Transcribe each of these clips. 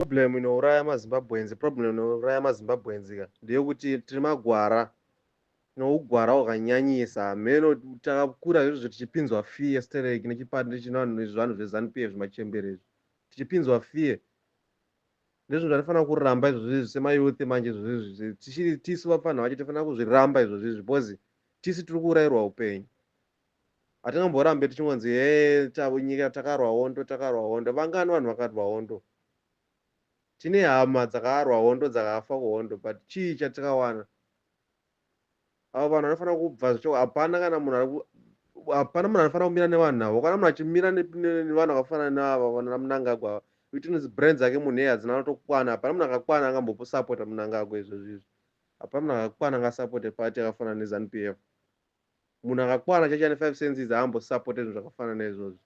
problem inouraya mazimbabwenzi problem inouraya mazimbabwenzi ka ndeyekuti tiri magwara nougwara hwakanyanyisa hameno takakura izvozvo tichipinzwa fear stereki nechipande chinanhu izvi vanhu zvezanup f zvimachembere izvi tichipinzwa fear ndizvo zvatifanira kuramba izvozvo izvi semayouth manje izvozvo izvi tichiri tisu vapfanha vacho tifanira kuzviramba izvozvo izvi because tisu tiri kuurayirwa upenyu hatingamborambe tichingonzi hee nyika takarwa hondo takarwa hondo vangani vanhu vakarwa hondo tine hama dzakarwa hondo dzakafa kuhondo but chii chatikawana avo vanhu vanofanira kubva zvacho hapana kana munhu hapana munhu anofanira kumira nevanhu avo kana munhu achimira nevanhu vakafanana neava vana munangagwa ava itinzi brand dzake munhu iye hadzina anotokwana hapana munhu akakwana angambopusapota munangagwa izvozvizvi hapana munhu akakwana angasapote pati akafanana nezanu p f munhu akakwana chaicho ane five senses haambo supporte zvinhu zvakafanana izvozvo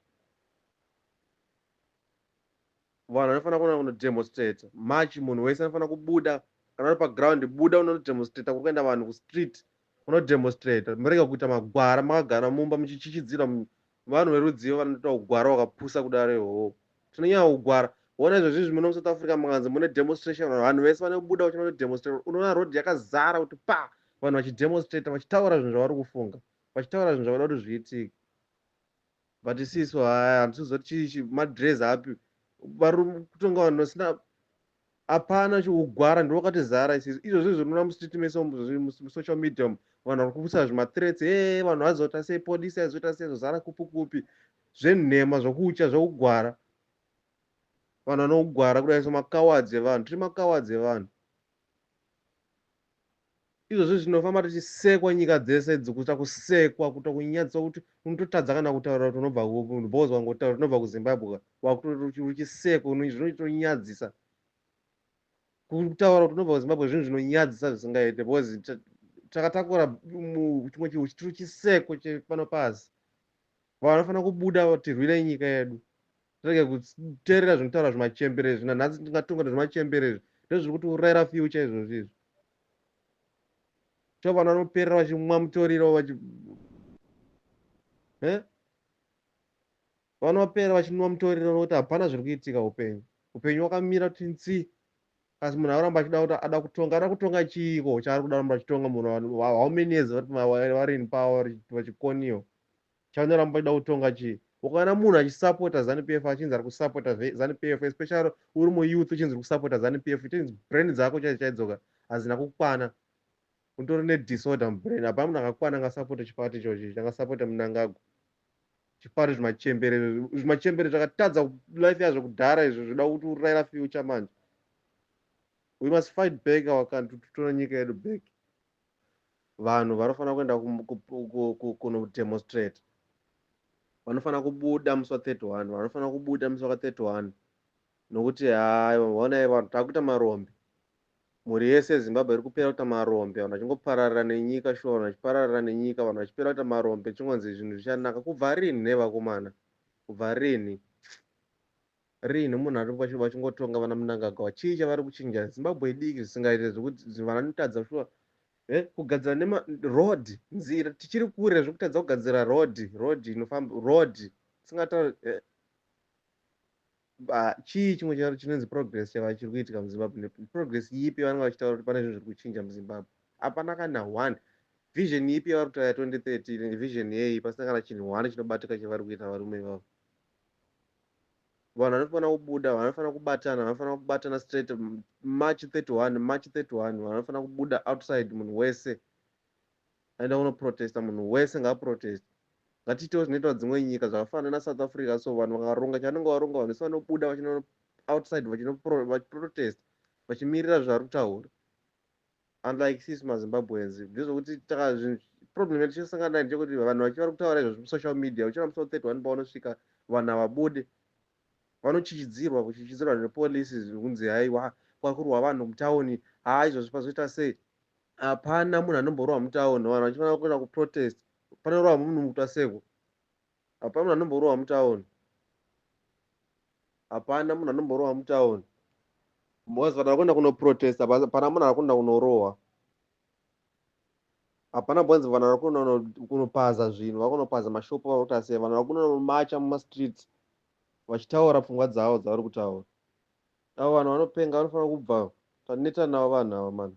vanhu vanofanira kuona kunodemonstrata march munhu wese anofanira kubuda kana uri paground buda unonodemonstrata kuri kuenda vanhu kustreet unodemonstrata murega kuita magwara makagara mumba muchichichidzira Vanhu verudzivo vanoita hugwara hwakapusa kudaro ihoho. Tinonyanya kugwara. Hona izvozvizvi muno muSouth Africa mukanzi mune demonstration vanhu vese vane kubuda kuti vanodemonstrate. Unoona road yakazara kuti pa vanhu vachidemonstrate vachitaura zvinhu zvavari kufunga. Vachitaura zvinhu zvavada kuti zviitike. But isisu haya handisi kuzoti chii madress api. Vari kutonga vanhu vasina Hapana hugwara ndihwo hwakatizara isusu. Izvozvi zvinoona musititi mese umu, zviri mus- musocial media umu. Vanhu vari kupusa zvimathreats, hey, vanhu vazoita sei, polisi aizoita sei, zvozara kupi kupi. Zvenhema, zvokutya, zvokugwara. Vanhu vanogwara kudai so makawadzi evanhu, tiri makawadzi evanhu. izvozvo zvinofamba tichisekwa nyika dzese idzi kuita kusekwa kuita kunyadziswa kuti unototadza kana kutaura kuti unobva kupi bos wangotaura tinobva kuzimbabwe wakutoruchisekwa zvinotonyadzisa kutaura kuti unobva kuzimbabwe zvinhu zvinonyadzisa zvisingaite bos takatakura chimwe chihu chitiri chiseko chepano pasi vanofanira kubuda tirwire nyika yedu tirege kuteerera zvinotaura zvimachembere izvi nanhasi tingatonga nezvimachembere izvi ndozviri kuti urayira fyucha izvozvi izvi cho vanhu vanoperera vachimwa mutoriro vachi vanhu vaperera vachinwa mutoriro nokuti hapana zviri kuitika upenyu upenyu wakamira kuti nsi asi munhu auramba achida kuti ada kutonga ada kutonga chiiko chaari kuda ramba achitonga munhu how many years vari in power vachikoniwa Chavanoramba vachida kutonga chii? Ukaona munhu achisupporta Zanu PF achinzi ari kusupporta Zanu PF especially uri muyouth uchinzi uri kusupporta Zanu PF it means brain dzako chaidzo chaidzoka hadzina kukwana. Utori nedisorder mubrain. Hapana munhu akakwana angasupporte chiparty ichochi changasupporte Mnangagwa. Chiparty zvimachembere zvimachembere zvakatadza life yazvo kudhara izvo zvoda kuti urayira future manje. We must fight back our country totore nyika yedu back. vanhu vanofanira kuenda kunodemonstrate vanofanira kubuda musi wa 31 vanofanira kubuda musi waka 31 nokuti haiwa honai vanhu takuita marombe mhuri yese yezimbabwe iri kupera kuita marombe vanhu vachingopararira nenyika shuwa vanhu vachipararira nenyika vanhu vachipera kuita marombe chingonzi zvinhu zvichanaka kubva rinhi nevakomana kubva rinhi Rinhi munhu ari vachi- vachingotonga vana Mnangagwa chii chavari kuchinja Zimbabwe idiki zvisingaite zvekuti zi- vanotadza shuwa eh, kugadzira nema road nzira tichiri kure zvekutadza kugadzira road road inofamba road tisingatauri eh, ba- chii chimwe charo chinonzi progress chava chiri kuitika muzimbabwe Ne- progress yipi vanenge vachitaura kuti pane zvinhu zviri kuchinja muzimbabwe hapana kana one vision yipi yavari kutaura ya 2030 vision yei pasina kana chinhu one chinobatika chavari kuita varume ivavo vanhu vanofanira kubuda vanhu vanofanira kubatana vanhu vanofanira kubatana straight march 31 march 31 vanhu vanofanira kubuda outside munhu wese aenda kunoprotesta munhu wese ngaaprotest ngatiitewo zvinoitwa dzimwe nyika zvakafanana nasouth africa so vanhu vakaronga chavanenge varonga vanhu vese vanobuda vachino outside vachinoprotest vachimirira zvavari kutaura unlike sisi mazimbabweans ndezvokuti takazvinhu problem yedu tichasangana nayo ndechekuti vanhu vachi vari kutaura izvozvo musocial media uchiona musi wa 31 pavanosvika vanhu havabude vanochichidzirwa kuchichidzirwa nepolisi kunzi haiwa kwakurwa vanhu mutauni haa izvozvo pazoita sei hapana munhu anomborwa mutauni vanhu vachifanira kuenda kuprotest panorwa munhu mutwa seko Hapana munhu anomborohwa mutown. Hapana munhu anomborohwa mutown. Boss vanhu vakuenda kunoprotesta hapana munhu arikuenda kunorohwa. Hapana bonzi vanhu varikuenda kunopaza zvinhu vakunopaza mashopo vari kuti asiya vanhu vakunomacha mumastreets vachitaura pfungwa dzavo dzavari kutaura. Avo vanhu vanopenga vanofanira kubva taneta navo vanhu ava mani.